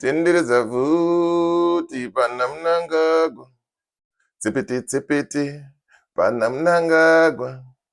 tenderedza vhuti pana munangagwa tsepete tsepete pana munangagwa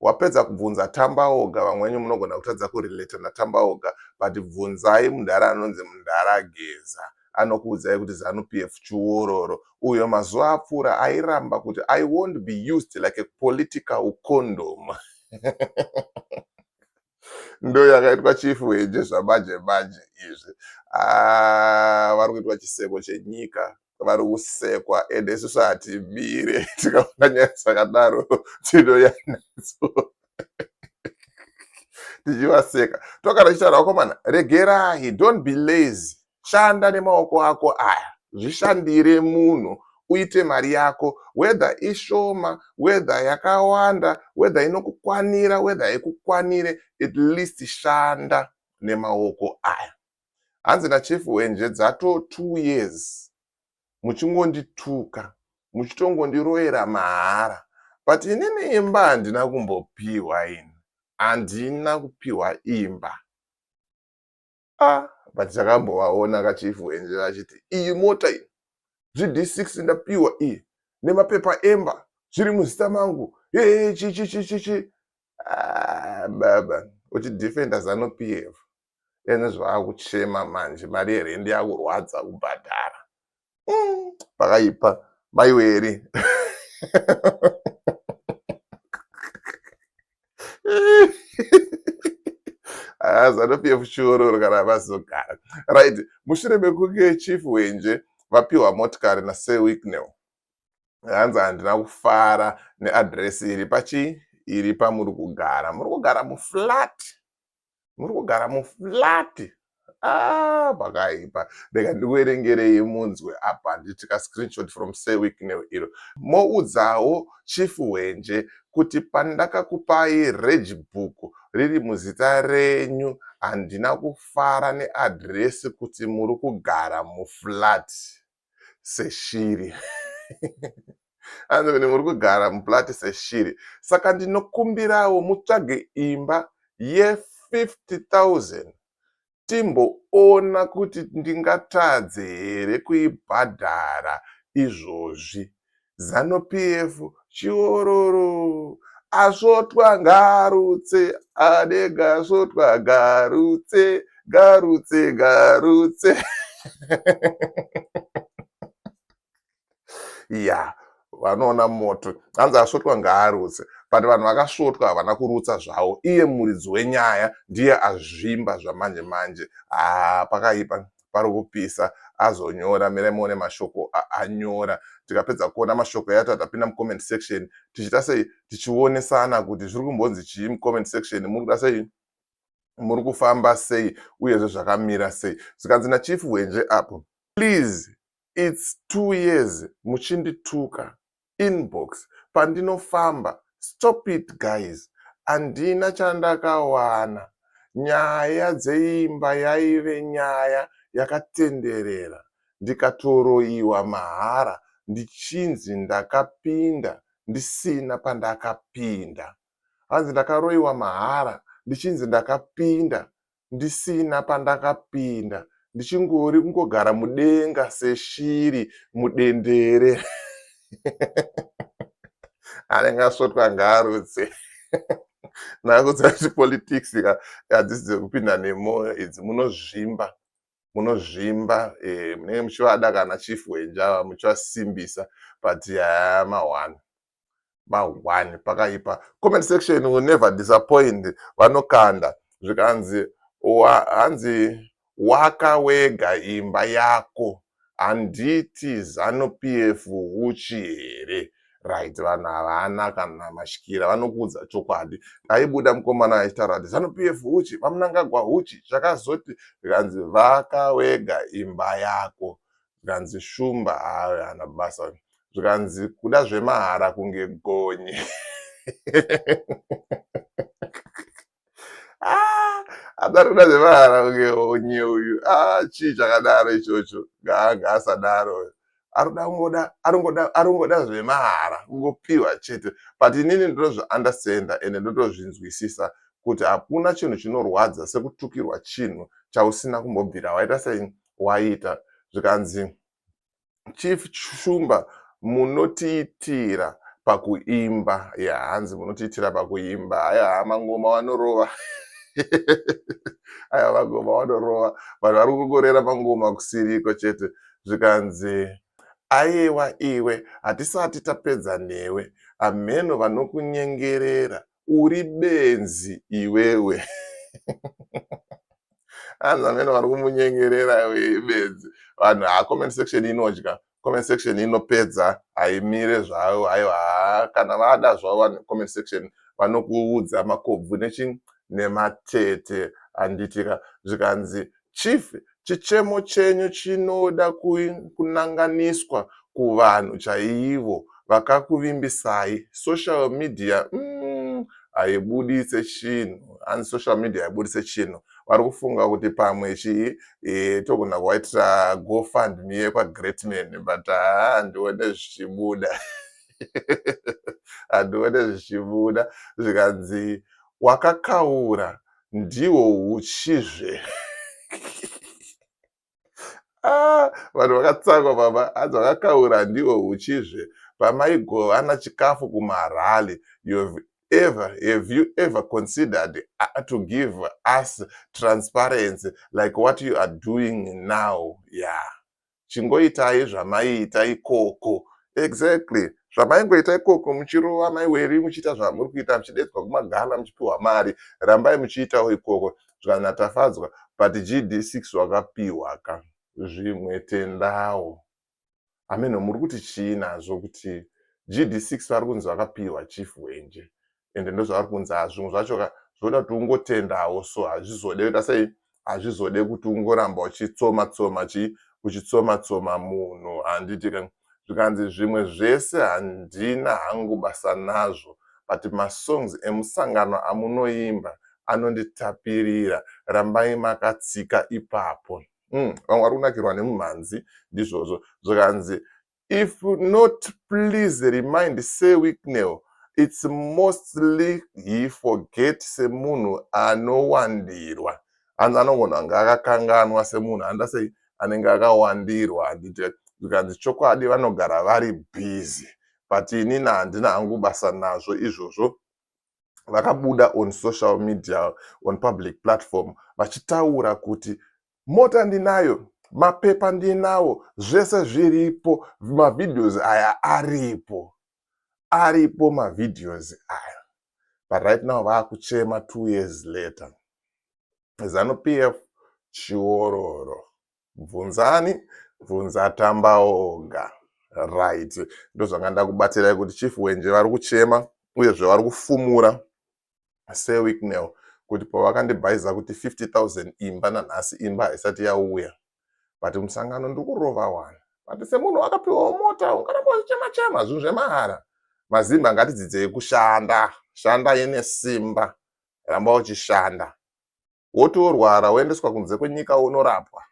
wapedza kubvunza tambaoga vamwe venyu munogona kutadza kurelata natambaoga but bvunzai mudhara anonzi mudhara geza anokuudzai kuti zanu p f chiwororo uyo mazuva apfuura airamba kuti i won't be used like a political condom ndo yakaitwa chief weje zvamaje maje izvi ah, vari kuitwa chiseko chenyika vari kusekwa ende isusu hatimire tikaona nyaya dzakadaro tinoya nadzo tichivaseka tokana tichitaura vakomana regerai don't be lazy shanda nemaoko ako aya zvishandire munhu uite mari yako wedha ishoma wedha yakawanda wedha inokukwanira wedha haikukwanire at least shanda nemaoko aya hanzi nachief hwenje dzato two years muchingondituka muchitongondiroyera mahara but inini imba handina kumbopihwa ini handina kupihwa imba ah but takambovaona kachief hwenje vachiti iyi mota iyi gd6 ndapihwa iyi nemapepa emba zviri muzita mangu hehe chichichichichi ah, baba uchidefenda zanu pf ende zvaakuchema manje mari yerent yakurwadza kubhadhara umm pakaipa maiweri azanopf shororo kana vazogara right mushure mekunge chief wenje vapiwa motikari nasir wicknell hanzi handina kufara neadresi iri pachii iri pamuri kugara muri kugara muflat muri kugara muflati ah, pakaipa rega ndikuerengerei munzwe apa handiti ka screenshot from sewiknel iro moudzawo chifu hwenje kuti pandakakupai regi book riri muzita renyu handina kufara neadhiresi kuti muri kugara muflati seshiri anzi kuti muri kugara muplati seshiri saka ndinokumbirawo mutsvage imba ye50000 timboona kuti ndingatadze here kuibhadhara izvozvi Zanu PF chiororo asvotwa ngarutse ade gasvotwa garutse garutse garutse ya yeah. vanoona moto hanzi asvotwa ngaarutse but vanhu vakasvotwa havana kurutsa zvavo iye muridzi wenyaya ndiye azvimba zvamanje manje haa ah, pakaipa pari kupisa azonyora mirai muone mashoko aanyora tikapedza kuona mashoko yacho tapinda mucomment section tichiita sei tichionesana kuti zviri kumbonzi chii mucomment section muri kuda sei muri kufamba sei uyezve zvakamira sei zvikanzi nachief hwenje apo please its two years muchindituka inbox pandinofamba stop it guys handina chandakawana nyaya dzeimba yaive nyaya yakatenderera ndikatoroiwa mahara ndichinzi ndakapinda ndisina pandakapinda hanzi ndakaroiwa mahara ndichinzi ndakapinda ndisina pandakapinda ndichingori kungogara mudenga seshiri mudendere anenge asvotwa ngaarutse nakudzira kuti politics hadzisi dzekupinda nemwoyo idzi munozvimba munozvimba eh, munenge muchivada kana chief wenjava muchivasimbisa but yaya mahwani mahwani pakaipa comment section will never disappoint vanokanda zvikanzi hanzi waka wega imba yako handiti zanu pf uchi here right vanhu havana kana mashikira vanokuudza chokwadi aibuda mukomana aitaura kuti zanu pf uchi vamunangagwa uchi zvakazoti zvikanzi vaka wega imba yako zvikanzi shumba haana basa zvikanzi kuda zvemahara kunge gonye ah, adari kuda zvemahara kunge gonye uyu ah, chii chakadaro ichocho gaanga asadaro arudangoda arungoda arungoda zvemahara kungopiwa chete but inini ndinozviunderstanda ende ndotozvinzwisisa kuti hakuna chinhu chinorwadza sekutukirwa chinhu chausina kumbobvira waita sei waita zvikanzi chief shumba munotiitira pakuimba ya yeah, hanzi munotiitira pakuimba haya mangoma wanorova aya mangoma wanorova vanhu vari kungorera mangoma kusiriko chete zvikanzi ayewa iwe hatisati tapedza newe amheno vanokunyengerera Uri benzi iwewe. Hanzi amene vari kumunyengerera iwe benzi. Vanhu ha comment section inodya. Comment section inopedza haimire zvayo haiwa kana vada zvavo vanhu comment section vanokuudza makobvu nechi nematete handitika zvikanzi Chief chichemo chenyu chinoda kunanganiswa kuvanhu chaivo vakakuvimbisai social media umm haibuditse chinhu hanzi social media haibuditse chinhu varikufunga kuti pamwe chii eh, togona kuwaitira go fund me yekwa great man but haa handione zvichibuda handione zvichibuda zvikanzi wakakaura ndihwo huchizve ah, vanhu vakatsangwa baba hanzi vakakaura ndihwo huchizve pamaigovana chikafu kumarally ever have you ever considered uh, to give us transparency like what you are doing now yeah chingoitai zvamaiita ikoko exactly zvamaingoita ikoko muchirova mai weri muchiita zvamuri kuita muchidedzwa kumagana muchipiwa mari rambai muchiitawo ikoko zvikanzi tafadzwa but gd6 wakapiwa ka zvimwe tendawo hameno muri kuti chii nazvo kuti gd6 vari kunzi vakapiwa chief wenje ende ndozvavari kunzi ha zvimwe zvacho ka zvoda kuti ungotendawo so hazvizode kuita sei hazvizode kuti ungoramba uchitsoma tsoma chii uchitsoma tsoma munhu handiti ka zvikanzi zvimwe zvese handina hangu basa nazvo but masongs emusangano amunoimba anonditapirira rambai makatsika ipapo mm, vamwe vari kunakirwa nemumhanzi ndizvozvo zvikanzi if not please remind sir wicknell its mostly he forget semunhu anowandirwa hanzi anogona kunge akakanganwa semunhu handa sei anenge akawandirwa handiti zvikanzi chokwadi vanogara vari busy but inini handina hangu basa nazvo izvozvo vakabuda on social media on public platform vachitaura kuti mota ndinayo mapepa ndinawo zvese zviripo mavideos aya aripo aripo mavideos aya but right now vaakuchema two years later zanu pf chiororo bvunzani bvunza tamba oga right ndozvanga ndakubatsirai kuti chief wenje vari kuchema uyezve vari kufumura sewicknel kuti pavakandibhaiza kuti 50000 imba nanhasi imba haisati yauya but musangano ndiri kurova wani but semunhu wakapiwawo mota ungaramba uchichema chema zvinhu zvemahara mazimba ngatidzidzei kushanda shanda ine simba ramba uchishanda woti worwara woendeswa kunze kwenyika wonorapwa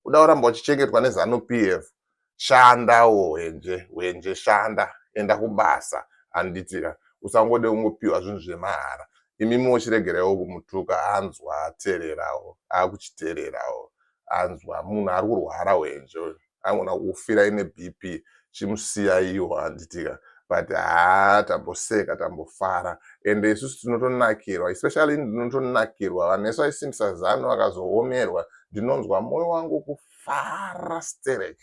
kuda kuramba uchichengetwa nezanu p f shanda wo hwenje hwenje shanda enda kubasa handitika usangode kungopiwa zvinhu zvemahara imi mochiregerewo kumutuka anzwa atererawo akuchitererawo anzwa munhu ari kurwara hwenje uyu angona kufira ine bp chimusiyaiwo handitika but haa tamboseka tambofara ende isusu tinotonakirwa especially ndinotonakirwa vanhu vese vaisimbisa zano vakazoomerwa ndinonzwa moyo wangu kufara sterek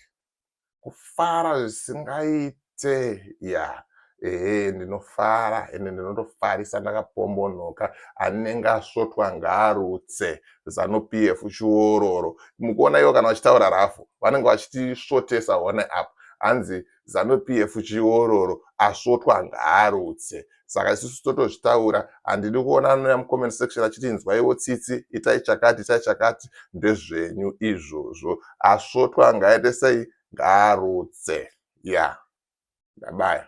kufara zvisingaiti tsee yaa ehe ndinofara ende ndinotofarisa ndakapombonoka anenge asvotwa ngaarutse zanu pf chiororo mukuona ivo kana vachitaura rafu vanenge vachitisvotesa hone apo hanzi zanu pf chiororo asvotwa ngaarutse saka isusu totozvitaura handidi kuona anouya mucomment section achiti inzwaiwo tsitsi itai chakati itai chakati ndezvenyu izvozvo asvotwa ngaite sei ngaarutse ya ndabaya.